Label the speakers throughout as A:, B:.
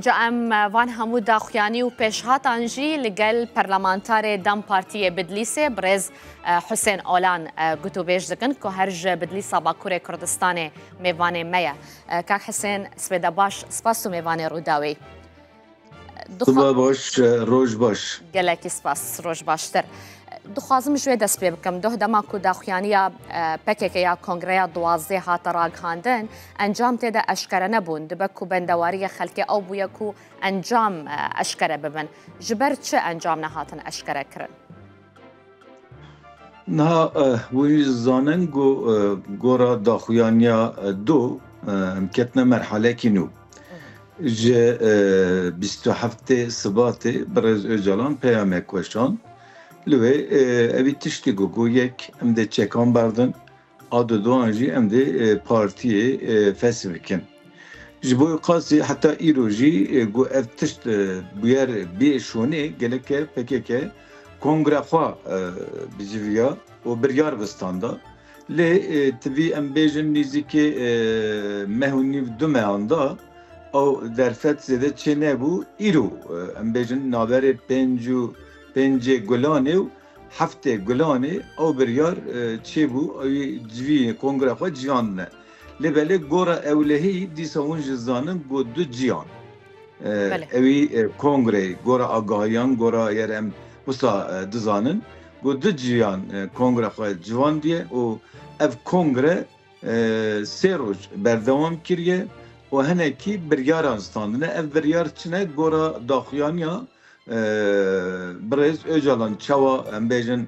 A: Ca em van hemû daxuyanî û pêşhatan jî li gel parlamentarê dem Partiyê Bidlîsê birêz Husên Olan gotûbêj dikin ku her ji Bidlîsa Bakurê Kurdistanê mêvanê me ye. Kak Husên Sibêde baş spas û mêvanê Rûdawê. Sibe
B: baş, roj baş. Gelekî spas,
A: roj baştir. Dixwazim ji wê dest pê bikim. Doh dema ku daxuyaniya PKK ya Kongreya Duwazdê hate ragihandin, encam tê de eşkere nebûn. Dibe ku bendewariyê xelkê ew bûye ku encam eşkere bibin. Ji ber çi encam nehatin eşkerekirin?
B: Niha wî zanin ku gora daxuyaniya du em ketine merhaleyekî nû. Ji bîst û heftê Sibatê birêz Ocalan peyamek weşand. Li wê evî tiştî got ku yek em dê çekan berdin, Erdogan jî em dê partiyê fesh bikin. Ji bo wê qasî heta îro jî ku ev tişt bûyer bûye şonê geleke pkk kongre xwe biciviya û biryar bi standa. Lê tu bî em bêjin nîzîkê meh û nîv du mehan da ew derfet zêde çênebû. Îro em bêjin naberê pênc û pêncê gulanê û Heftê Gulanê ew biryar çêbû ew ê civî kongreya xwe ciyan bine. Lê belê gora ewlehî dîsa hûn ji zanin ku du ciyan ew ê kongreyê gora agahiyan gora yer em wisa dizanin ku du ciyan kongreya xwe ciwandiye û ev kongre sê roj berdewam kiriye û hinekî biryaran standine. Ev biryar çi ne gora daxuyaniya Birêz Ocalan çawa em bêjin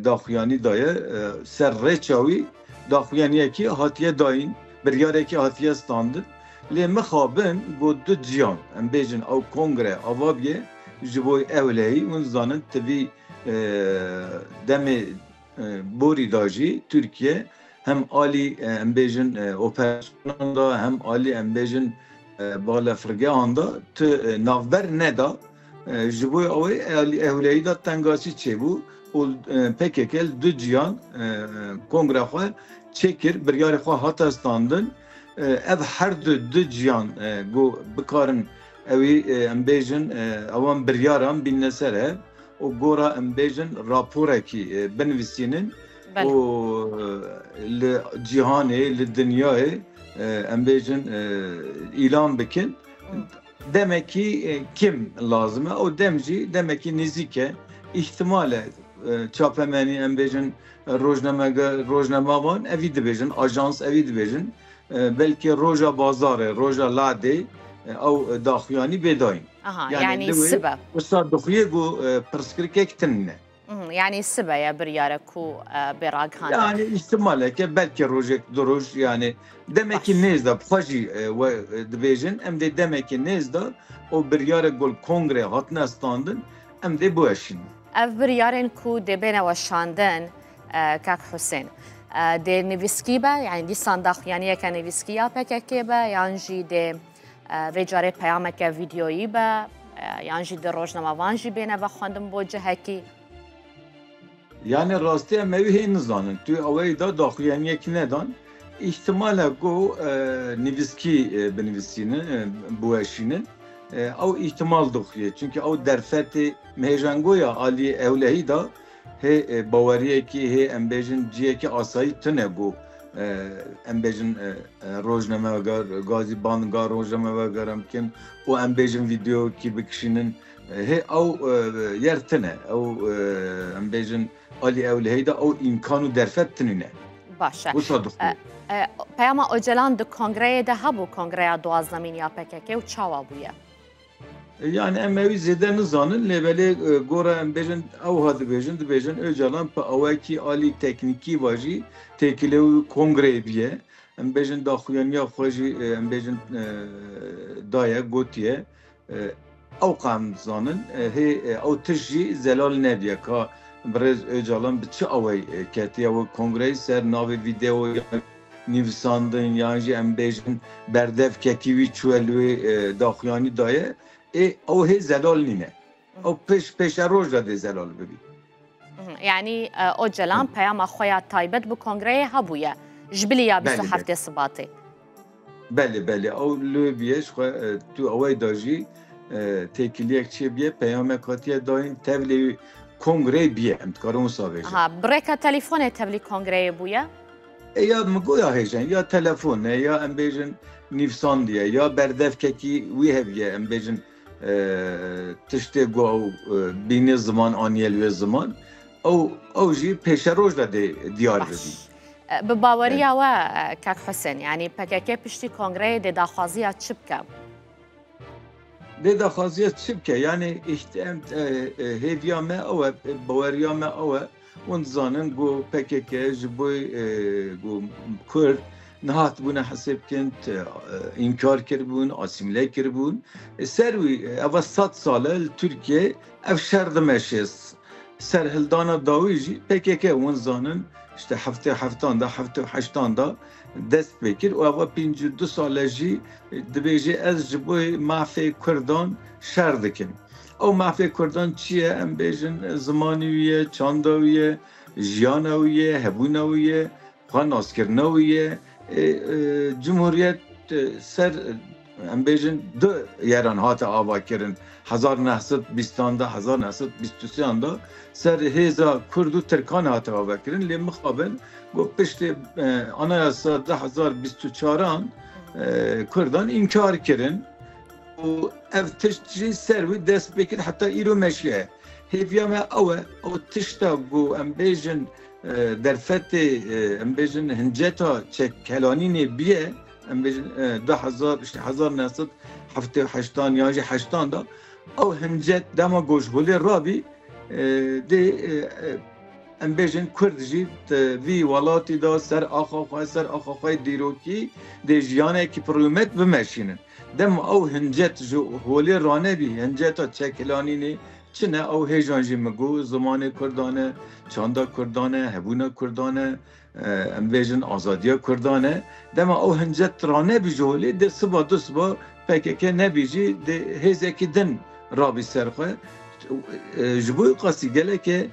B: daxuyanî daye ser rêça wî daxuyaniyekî hatiye dayîn, biryarekî hatiye standin lê mixabin got du ciyan em bêjin ew kongre ava bîye ji bo ewlehî hûn zanin ti vî demê Borî da jî Tirkiye hem alî em bêjin operasyonan da hem alî em bêjin balefirgehan da tu navber neda. Ji bo ew ê ewlehî da tengaçî çêbû û pkk li du cîhan kongre xwe çêkir, biryarê xwe hate standin. Ev herdu du cîhan ku bikarin ew ê em bêjin ewan biryaran bînine ser ev. û gora em bêjin raporekî binivîsînin û li cîhanê li dinyayê em bêjin îlan bikin demekî kêm lazim e û dem jî demekî nêzîk e îhtimal e çapemenî em bêjin rojnamege rojnama wan evî dibêjin ajans evî dibêjin Belkî roja bazarê, roja ladê ew daxuyanî bêdayîn. Aha yanî
A: sibe. Wisa dixuyê ku
B: pirsgirêkek tim ne. Yanî sibe
A: ye biryare ku bê ragihandin. Yanî îhtimaleke
B: belkî rojek du roj yanî demekî nêz de xwe jî we dibêjin em dê demekî nêz de û biryarek ku li kongrê hatine standin em dê biweşînin. Ev biryarên
A: ku dê bêne weşandin, Kak Husên. Dê nivîskî be yanî dîsan daxuyaniyeke nivîskî ya PKK'ê be yan jî dê vê carê peyameke vîdyoyî be yan jî di rojnamevan jî bêne vexwendin bo cihekî.
B: Yanî rastiya me wî hê nizanin. Tu awayî da daxuyaniyekî nedan. Îhtimal e ku nivîskî binivîsînin, biweşînin. Ew îhtimal dixuye. Çimkî ew derfetê mehêjangoya aliyê ewlehî da. Hê baweriyekî, hê em bêjin ciyekî asayî tune bû. Em bêjin rojnameweger gazî band ga rojnameweger em bikin û em bêjin vîdeokî bikişînin. Hê ew yer tune. Ew em bêjin alî ew li heyda ew îmkan û derfet tunîne. Baş e. Wisa
A: dixwe.
B: Peyama
A: Ocalan di kongreyê de hebû kongreya duwazdemîn ya PKK û çawa bûye? Yanî
B: em wî zêde nizanin lê belê gora em bêjin ewha dibêjin dibêjin Ocalan bi awayekî alî teknîkî va jî têkilê wî kongreyê bîye. Em bêjin daxuyanîya xwe jî em bêjin daye gotiye. Ew qe em dizanin hê ew tişt jî zelal nebîye ka birêz Ocalan bi çi awayî ketiye wê kongreyê ser navê vîdeoya nivîsandin yan jî em bêjin berdev ketî wî çûye li wê daxuyanî da ye ê ew hê zelal nîne. Ew pêş pêşeroj de dê zelal bibî. Yanî
A: Ocalan peyama xwe ya taybet bi kongreyê hebûye ji bilî ya bîst û heftê Sibatê. Belê
B: belê ew li wê bûye ji xwe tu ewey da jî têkiliyek çê bûye peyamek hatiye dayîn tevlî kongreyê bûye em dikarin wisa vêjin. Bi rêka telîfonê
A: tevlî kongreyê bûye. Ya
B: migoya hêjin, ya telefon e, ya em bêjin nîvsandiye, ya berdevkekî wî hev ye, em bêjin tiştê ku ew bînê ziman aniye li wê ziman, ew ew jî pêşeroj de dê diyar bibî. Bi baweriya
A: we kak Husen, yanî pkk piştî kongreyê dê daxwaziya çi bike?
B: Dê daxwaziya çi bike? Yanî hêviya me ew e, baweriya me ew e. Hûn dizanin ku pkk ji bo ku Kurd nehatibûne hesê bikin, înkar kiribûn, asîmîle kiribûn. Ser wî eva sed sal e li Tirkiyê ev şer dimeşe. Serhildana dawî jî pkk hûn dizanin işte heftê heftan de heftê heştan de dest pê kir û eva pêncî û du sal e jî dibêje ez ji bo mafê Kurdan şer dikim. Ew mafê kurdan çi ye? Em bêjin zimanê wî ye, çanda wî ye, jiyana wî ye, hebûna wî ye, xwe naskirina wî ye. Cumhuriyet ser em bêjin du yeran hate avakirin hezar neh sed bîstan de hezar neh sed bîst û sêyan de ser hêza kurd û tirkan hate avakirin lê mixabin got piştê anayasa du hezar bîst û çaran kurdan înkar kirin. û ev tişt jî ser wî dest pê kir heta îro meşîya ye. Hêviya me ew e ew tişta ku em bêjin derfetê em bêjin hinceta çekkelanînê bûye em bêjin du hezar îşte hezar neh sed heftê û heştan yan jî heştan de ew hincet dema goşgolê rabî dê em bêjin Kurd jî vî welatî de ser axa xwe ser axa xwe dîrokî dê jiyanekî pirûmet bimeşînin. Dema ew hincet ji holê ranebî, hinceta çekilanînê çi ne, ew hêjan jî min got, zimanê kurdan e, çanda kurdan e, hebûna kurdan e, em bêjin azadiya kurdan e. Dema ew hincet ranebî ji holê, dê siba du siba pkk nebî jî dê hêzekî din rabî ser xwe. Ji bo qasî gelekê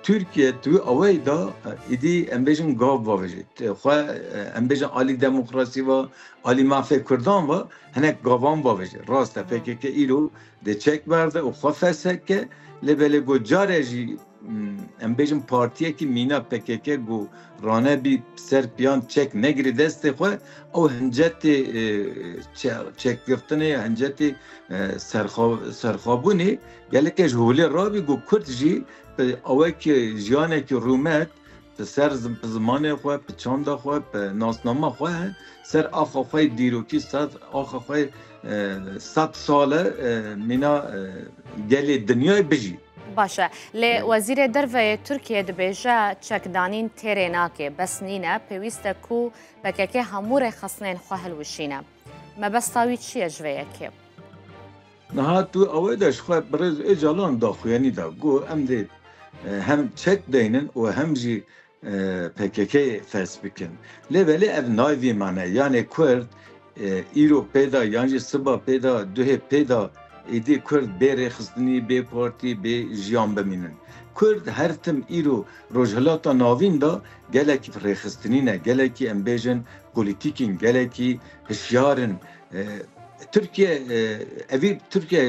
B: Tirkiye di wî awayî de êdî em bêjin gav bavêje. Xwe em bêjin alî demokrasî va, Alî mafê kurdan ve hinek gavan bavêje. Rast e pkk îro dê çek berde û xwe fesek ke lê belê ku care jî em bêjin partiyekî mîna pkk ku rane bî ser piyan çek negirî destê xwe ew hincetê çekgirtinê ya hincetê serxwebûnê gelekê ji holê rabî ku kurd jî bi awekî jiyanekî rûmet Bi ser zimanê xwe, bi çanda xwe, bi nasnama xwe ser axa xwe yê dîrokî, ser axa xwe yê sed sale mîna gelê dinyayê bijî. Baş e. Lê
A: Wezîrê Derve yê Tirkiyê dibêje çekdanîn têrê nake, bes nîne, pêwîst e ku pkk hemû rêxistinên xwe hilwişîne. Mebesta wî çi ye ji vê yekê?
B: Niha tu ew ê de ji xwe Birêz Ocalan daxuyanî da ku em dê hem çek deynin û hem jî PKK'yê fes bikin. Lê belê ev nayê vî manayê. Yanê Kurd îro pê da yan jî siba pê da duhê pê da êdî Kurd bê rêxistinî, bê partî, bê jiyan bimînin. Kurd her tim îro Rojhilata Navîn da gelek rêxistinî ne, gelekî em bêjin polîtîk in, gelekî hişyar in. Tirkiye evî Tirkiye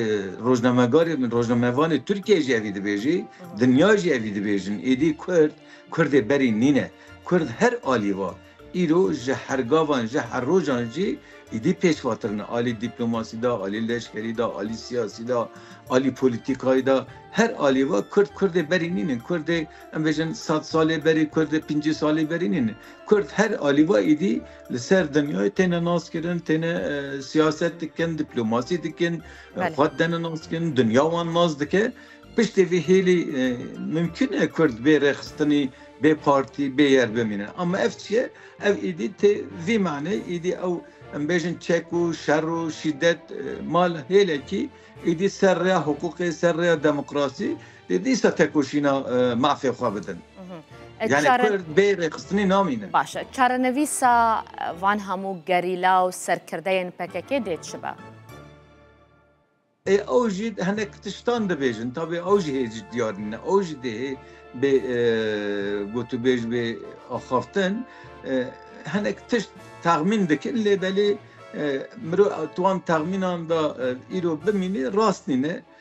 B: rojnamegarê min rojnamevanê Tirkiyeyê jî evî dibêjî, dinya jî evî dibêjin. Êdî Kurd, Kurdê berî nîne. Kurd her alî va. Îro ji hergavan ji her rojan jî êdî pêşvatir ne. Alî dîplomasî de, alî leşkerî de, alî siyasî de, alî polîtîkayî de. Her alî va Kurd Kurdê berî nînin. Kurdê em bêjin sed salê berî Kurdê pincî salî berî nînin. Kurd her alî va êdî Li ser dinyayê têne naskirin, têne siyaset dikin, diplomasî dikin, xwe têne naskirin, dinya wan nas dike. Piştê vê hêlî mimkun e Kurd bê rêxistinî, bê partî, bê yer bimîne. Ama ev çi ye? Ev êdî tê vî manê êdî ew em bêjin çek û şer û şîdet mal hêlekî êdî ser rêya hiqûqê, ser rêya demokrasî, Dê dîsa tekoşîna mafê xwe bidin. Yani Kurd bê rêxistinê namîne. Baş e. Çarenivîsa
A: van hemû gerîla û serkirdeyên PKK'ê dê çi be?
B: Ew jî hinek tiştan dibêjin. Tabî ew jî hê ji diyar nîne. Ew jî dê hê bê gotûbêj bê axaftin. Hinek tişt texmîn dikin lê belê mirov di wan texmînan de îro bimînê rast nîne.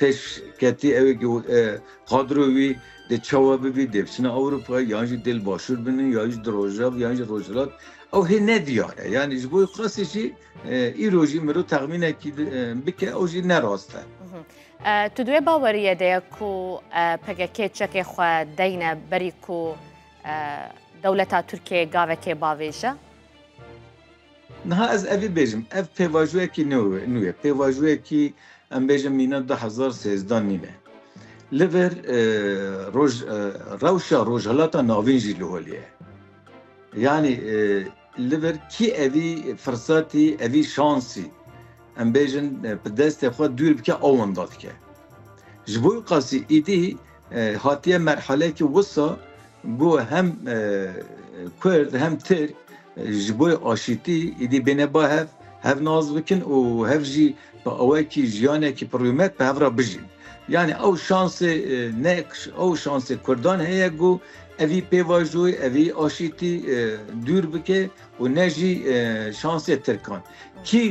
B: Pêş ketî ew qadro wî di çawa bibî dê biçine Ewropa yan jî dê li başûr bine ya jî di rojav yan jî rojhilat ew hê ne diyar e. Yanî ji bo qasî jî îro jî miro texmînekî bike ew jî ne rast e. Tu
A: duê baweriye de ye ku PKK çekê xwe deyne berî ku dewleta Tirkiyeyê gavekê bavêje?
B: Niha ez evî bêjim, ev pêvajoyekî nû ye, pêvajoyekî em bêjim mîna du hezar û sêzdeh nî ne. Li vir roj rewşa Rojhilata Navîn jî li holê ye. Yanî li vir kî evî firsatî, evî şansî em bêjin bi destê xwe dûr bike ew wenda dike. Ji bo qasî îdî hatiye merheleyekî wisa Ku hem Kurd hem Tirk ji bo aşîtî êdî bêne ba hev, hev nas bikin û hev jî bi awayekî jiyanekî pirûmet bi hev re bijîn. Yanî ew şansê ne ew şansê Kurdan heye ku evî pêvajoyê, evî aşîtî dûr bike û ne jî şansê Tirkan. Kî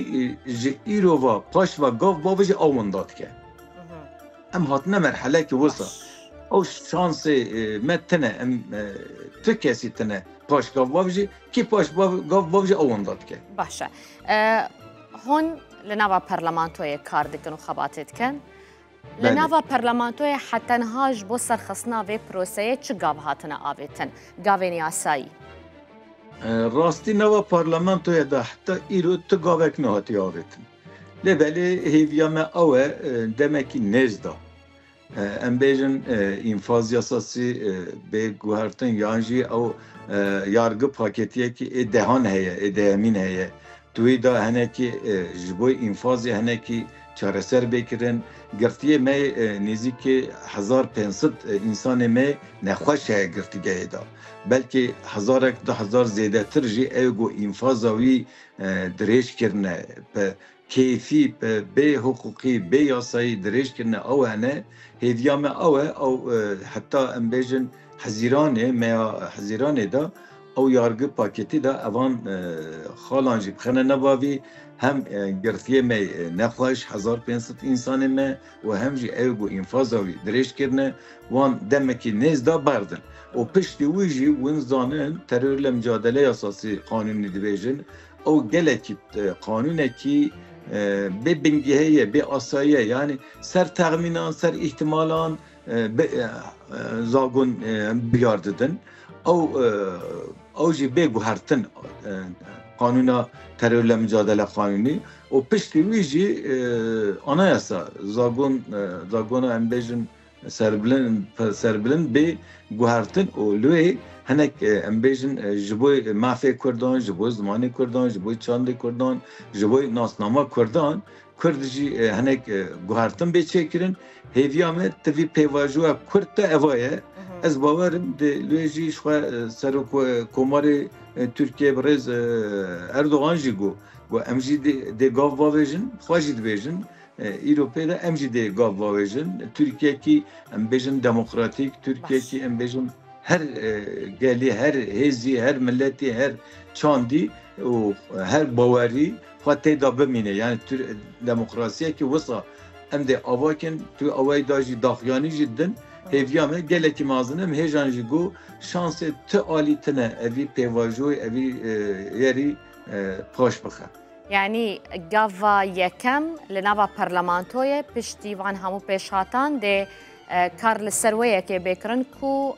B: ji îro ve paş ve gav bavê jî ew winda dike. Em hatine merhelekê wisa. Ew şansê me tine. Em tu kesî tine. Paş gav bav jî kî paş gav bav jî ew wenda dike. Baş e.
A: Hûn li nava parlamentoyê kar dikin û xebatê dikin. Li nava parlamentoyê hetenha ji bo serxistina vê proseyê çi gav hatine avêtin? Gavên yasayî.
B: Rastî nava parlamentoye de heta îro tu gavek nehatiye avêtin. Lê belê hêviya me ew e demekî nêz da. Em bêjin înfaz yasasî bê guhertin yan jî ew yargi paketiyekî ê dehan heye, ê dehemîn heye. Di wî de hinekî ji bo înfazê hinekî çareser bê kirin. Girtiyê me nêzîkî hezar pênc sed însanê me nexweş heye girtîgehê de. Belkî hezarek du hezar zêdetir jî ê ku înfaza wî dirêj kirine, bi keyfî, bi bê hiqûqî, bê yasayî dirêj kirine ew hene. Hêviya me ew e, ew heta em bêjin Hezîranê, meya Hezîranê de ew yargi pakêtî da evan xalan jî bixine nava vî. Hem girtiyê me yê nexweş, hezar pênc sed însanê me, û hem jî ew ku înfaza wî dirêj kirine wan demekî nêz da berdin û piştî wî jî win zanin teror li micadele yasasî qanûnî dibêjin ew gelekî qanûnekî bê bingehê ye bê asayî ye yanî ser texmînan ser îhtimalan zagon biyar didin. Ew ew jî bê guhertin qanûna terorle micadele qanûnî û piştî wî jî anayasa zagon zagona em bêjin serbilind serbilind bê guhertin û lê hinek em bêjin ji bo mafê Kurdan ji bo zimanê Kurdan ji bo çandê Kurdan ji bo nasnama Kurdan Kurd jî hinek guhertin bê çêkirin. Hêviya me ti vî pêvajoya Kurd te eva ye. Ez bawerim di lê jî xwe serok komarê Tirkiye bi rêz Erdogan jî got got em jî dê gav bavêjin xwe jî dibêjin îro pê de em jî dê gav bavêjin Tirkiyekî em bêjin demokratîk Tirkiyekî em bêjin her gelî her hêzî her miletî her çandî û her bawerî xwe tê de bimîne yanî tu demokrasiyekî wisa em dê ava kin tu awayî da jî daxuyanî jî din hêviya me gelekî mezin im hêjan jî got şansê tu alî tine evî pêvajoyî evî yerî paş bixe. Yanî
A: gava yekem li nava parlamentoyê piştî van hemû pêşhatan dê kar li ser wê yekê bê kirin ku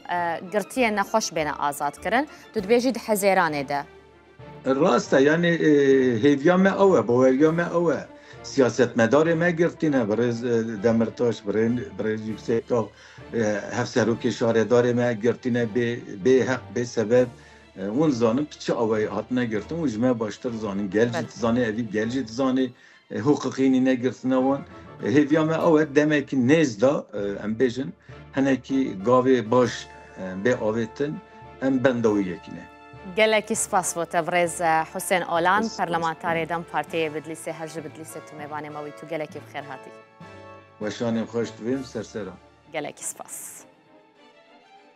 A: girtiyên nexweş bêne azadkirin tu dibêjî di hezêranê de. Rast e
B: yanî hêviya me ew e, baweriya me ew e. Siyasetmedarê me girtî ne birêz Demirtaş, birêz Yuksekdag, hevserokê şaredarê me girtî ne bê bê heq bê sebeb. Hûn dizanin tu çi awayî hatine girtin û ji me baştir dizanîn. Gel jî dizanê evî, gel jî dizanê. Huquqînî negirtine wan. Hêviya me ew e demekî nêz de em bêjin hinekî gavê baş bê avêtin em benda wî yekî ne. Gelekî spas
A: bo te birêz Husên Olan, Perlemantarê dem Partiyê yê Bidlîsê her ji Bidlîsê tu mêvanê me wî tu gelekî bi xêr hatî.
B: Weşanê
A: xweş divêm
B: serseran.
A: Gelekî
B: spas.